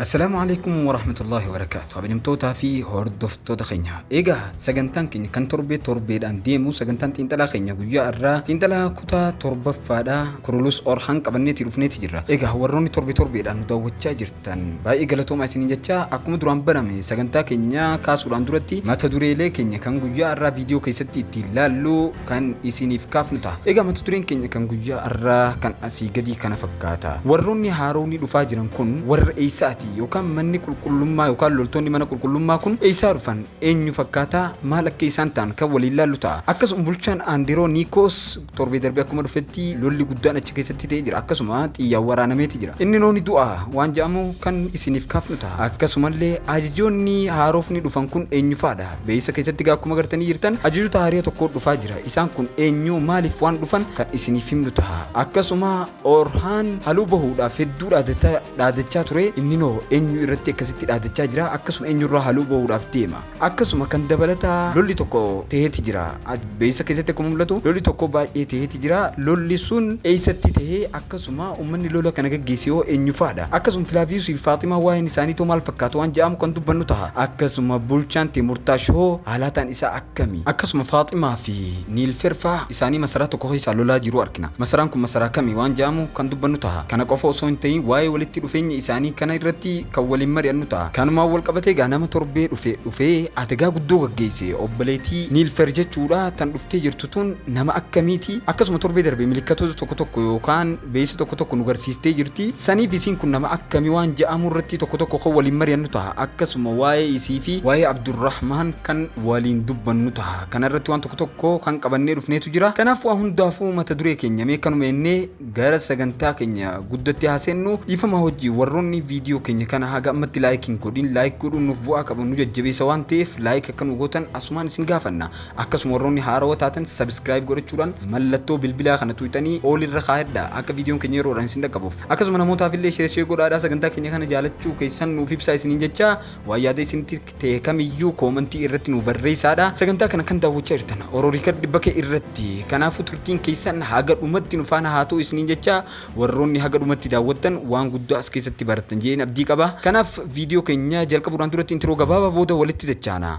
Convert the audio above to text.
Assalaamu alaikum warahmatullahi wabarakaatu kabajamtootaa fi hordoftoota keenya egaa sagantaan keenya kan torbee torbeedhaan deemu sagantaan xiinxalaa keenya guyyaa irraa xiinxalaa kutaa torbaffaadha kurulus orhaan qabanneeti dhufneeti jirra egaa warroonni torbee torbeedhaan nu daawwachaa jirtan baay'ee galatoomaa isin jechaa akkuma duraan barame sagantaa keenya kaasuudhaan duratti mata dureelee keenya kan guyyaa irraa viidiyoo keessatti ittiin laallu kan isiniif kaafnu ta'a. Egaa mata dureen keenya kan guyyaa har'aa kan asii gadii kana fakkaata. Warroonni haaroonni dhufaa jiran kun warra eessaati yookaan manni qulqullummaa yookaan loltoonni mana qulqullummaa kun eessaa dhufan eenyu fakkaataa maal akka isaan ta'an kan waliin laallu ta'a. Akkasuma bulchaan Aandiroo Niikoos torbee darbee akkuma dhufetti lolli guddaan achi keessatti ta'ee jira. Akkasuma xiyyaan waraanameeti jira. Inni nooni du'a waan jedhamu kan isiniif kaafnu ta'a. Akkasumallee ajajoonni haaroofni dhufan kun eenyufaadha? Beeysa keessatti egaa akkuma gartanii jirtan ajajoota haariya tokkoo dhufaa jira. Isaan kun eenyuu maaliif waan dhufan kan isiniif himnu taha. Akkasuma Orhaan haluu bahuudhaaf hedduu dhaadata dhaadachaa ture inninoo eenyu irratti akkasitti dhaadachaa jira akkasuma eenyurraa haluu bahuudhaaf deema. Akkasuma kan dabalataa lolli tokko taheeti jira. Beeksisa keessatti akkuma mul'atu lolli tokko baay'ee taheeti jira. Lolli sun eessatti tahe? Akkasuma ummanni lola kana gaggeesse hoo eenyufaadha? Akkasuma Filaaviyuusii fi Faaximaa waa'een isaaniitoo maal fakkaata waan ja'amu kan dubbannu taha. Akkasuma bulchaan Teemurtaash hoo haalaataan isaa akkami? Akkasuma Faaximaa fi Niilferfaa isaanii masaraa tokko keessaa lolaa jiruu arkina. Masaraan kun masaraa kami waan ja'amu kan dubbannu taha. Kana qofa osoo hin tahin waa'ee walitti dhufeenya isaanii kana irratti kan waliin mari'annu ta'a. Kanumaan wal qabatee egaa nama torbee dhufe dhufee adegaa guddoo gaggeesse obboleetii Niilfer jechuudha tan dhuftee jirtu tun nama akkamiiti? Akkasuma torbee darbe milikkatoota tokko tokko yookaan beeysa tokko tokko nu garsiistee jirti. Saniif isiin kun nama akkami waan ja'amu irratti tokko tokko kan waliin mari'annu taha. Akkasuma waa'ee isii fi waa'ee Abdurrahmaan kan waliin dubbannu taha. Kana irratti waan tokko tokko kan qabannee dhufneetu jira. Kanaaf waa hundaafuu mata duree keenya mee kanuma ennee Gara sagantaa keenya guddatti haa seennu. Dhiifama hojii warroonni viidiyoo keenya kana haga ammatti like hin godhin like godhuun nuuf bu'aa qaba nu jajjabeessa waan ta'eef like akka nu gootan asumaan isin gaafanna. Akkasuma warroonni haarawa taatan subscribe godhachuudhaan mallattoo bilbilaa kana tuqxanii all irra kaayadha akka viidiyoon keenya yeroodhaan isin dhaqqabuuf. Akkasuma namootaaf illee share share godhaadhaa sagantaa keenya kana jaalachuu keessan nuuf ibsaa isiniin jechaa waan yaada isinitti ta'e kamiyyuu koomantii irratti nuu barreessaadha. Sagantaa kana kan daawwachaa jirtan Oro Riikard Bake irratti. Kanaafuu turtiin keessan haga dhumatti nu faana haa ta'u isiniin jecha warroonni haga dhumatti daawwattan waan guddaa as keessatti barattan jedheen abdii qaba. Kanaaf viidiyoo keenya jalqabuudhaan duratti intiroo gabaabaa booda walitti dachaana.